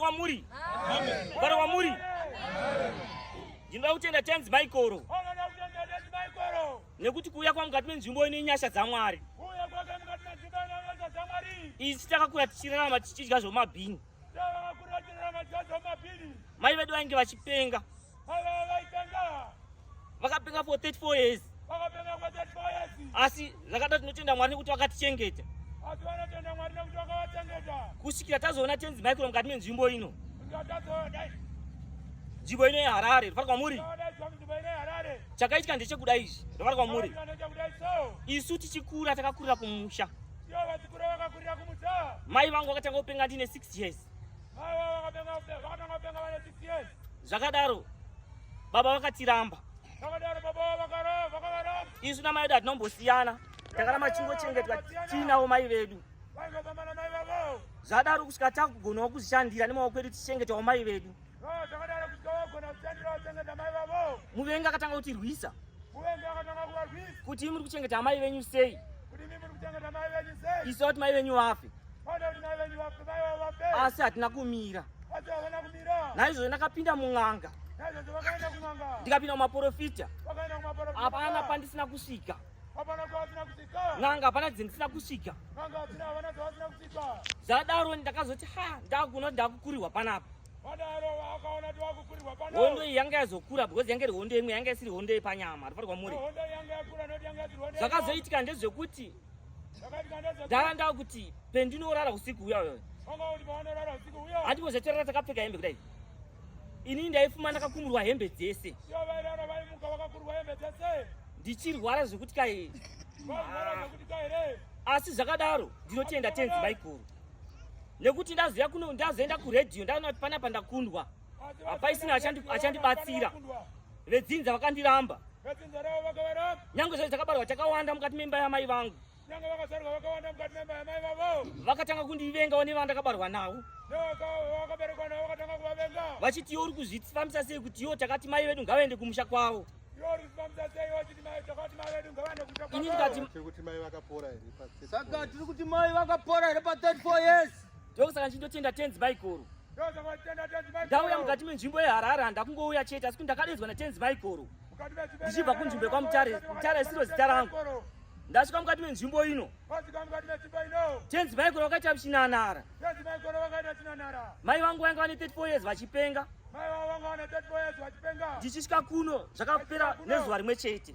kwamuri mugare kwamuri ndinoda kutenda tenzi maikoro nekuti kuuya kwa mukati menzvimbo ine nyasha dzamwari isu takakura tichirarama tichidya zvomabhini mai vedu vainge vachipenga vakapenga for 34 years asi zvakada tinotenda mwari nekuti vakatichengeta kusvikira tazoona tenzi maikuro mukati menzvimbo ino nzvimbo ino yeharare ndofara kwamuri chakaitika ndechekuda izvi ndofara kwamuri isu tichikura takakurira kumusha mai vangu vakatanga kupenga ndine 6 years zvakadaro baba vakatiramba isu namai vedu hatinombosiyana takaramba chingochengetwa tiinawo mai vedu zvadaro kusvika takugonawo kuzvishandira nemaoko edu tichengetawo mai vedu muvengi akatanga kutirwisa kuti muri kuchengeta amai venyu sei isu kuti mai venyu vafe asi hatina kumira naizvozvo ndakapinda mun'anga ndikapinda mumaporofita hapana pandisina kusvika n'anga hapana dzindisina kusvika zvadaro ndakazoti ha ndakuno ndakukurirwa panapa hondo iyi yanga yazokura because yange iri hondo imwe yanga isiri hondo yepanyama rifarwa muri zvakazoitika ndezvekuti ndava ndava kuti pendinorara usiku uya uyo handimbozetorara takapfeka hembe kudai ini ndaifuma ndakakumurwa hembe dzese ndichirwara zvekuti kai asi zvakadaro ndinotenda tenzi maiguru nekuti ndazoenda kuredhiyo ndaona kuti panapa ndakundwa hapaisina achandibatsira vedzinza vakandiramba nyange zvazi takabarwa takawanda mukati memba yamai vangu vakatanga kundivengawo nevandakabarwa navo vachiti iyo uri kuzvifambisa sei kuti iyo takati mai vedu ngavaende kumusha kwavo ini ndikati saka tiri kuti mai vakapora here pa 34 years ndokusaka ndichindotenda tenzi maiguru ndauya mukati menzvimbo yeharare handakungouya chete asi kuti ndakadedzwa natenzi maiguru ndichibva kunzvimbo yekwamutare mutare isiro zita rangu ndasvika mukati menzvimbo ino tenzi maiguru vakaita muchinanara mai vangu vainge vane 34 years vachipenga ndichisvika kuno zvakapera nezuva rimwe chete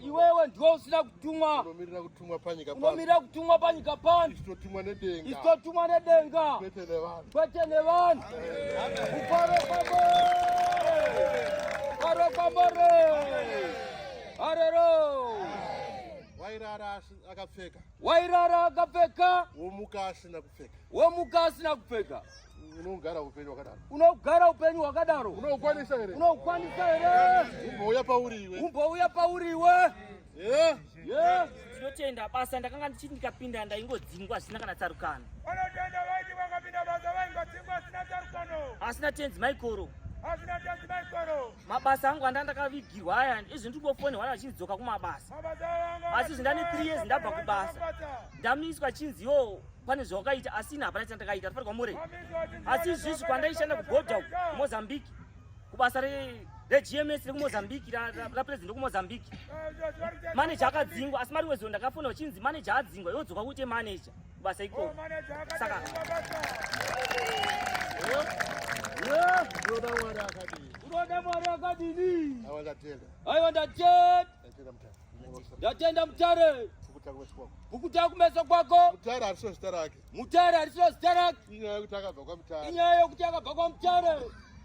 Iwewe ndiwe usina kutumwa. Unomirira kutumwa panyika pano. Unomirira kutumwa panyika pano. Istotumwa nedenga. Istotumwa nedenga. Kwete nevanhu. Kwete nevanhu. Kufaro kwambo. Kufaro kwambo. Arero. Wairara akapfeka. Wairara akapfeka. Womuka asina kupfeka. Womuka asina kupfeka. Unogara upenyu wakadaro. Unogara upenyu wakadaro. Unokwanisa here? Unokwanisa here? Umbouya pauri iwe. Umbouya pauri iwe. Eh? Yeah. Tinotenda basa ndakanga ndichiti ndikapinda ndaingodzingwa zvisina kana tsarukano. Vanotenda vaiti vakapinda basa vaingodzingwa zvisina tsarukano. Asina tenzi maikoro. Asina tenzi maikoro. mabasa angu anda ndakavigirwa aya izvi ndingofonehwa vachindidzoka kumabasa asi izvi ndane three years ndabva kubasa ndamiswa chinzi yo pane zvawakaita asi ini hapana chandakaita ndifanirwa mure asi izvizvi kwandaishanda kugoda mozambique kubasa regms rekumozambique rapresident rekumozambique maneja akadzingwa asi mari wezo ndakafona vachinzi maneja adzingwa yodzoka kuite maneja kubasa ikoko oh, saka unoda mwari akadini unoda mwari akadini aiwa ndatenda aiwa ndatenda ndatenda mutare kukuta kumeso kwako mutare harisiro zita rake mutare harisiro zita rake inyaya yokuti akabva kwamutare inyaya yokuti akabva kwamutare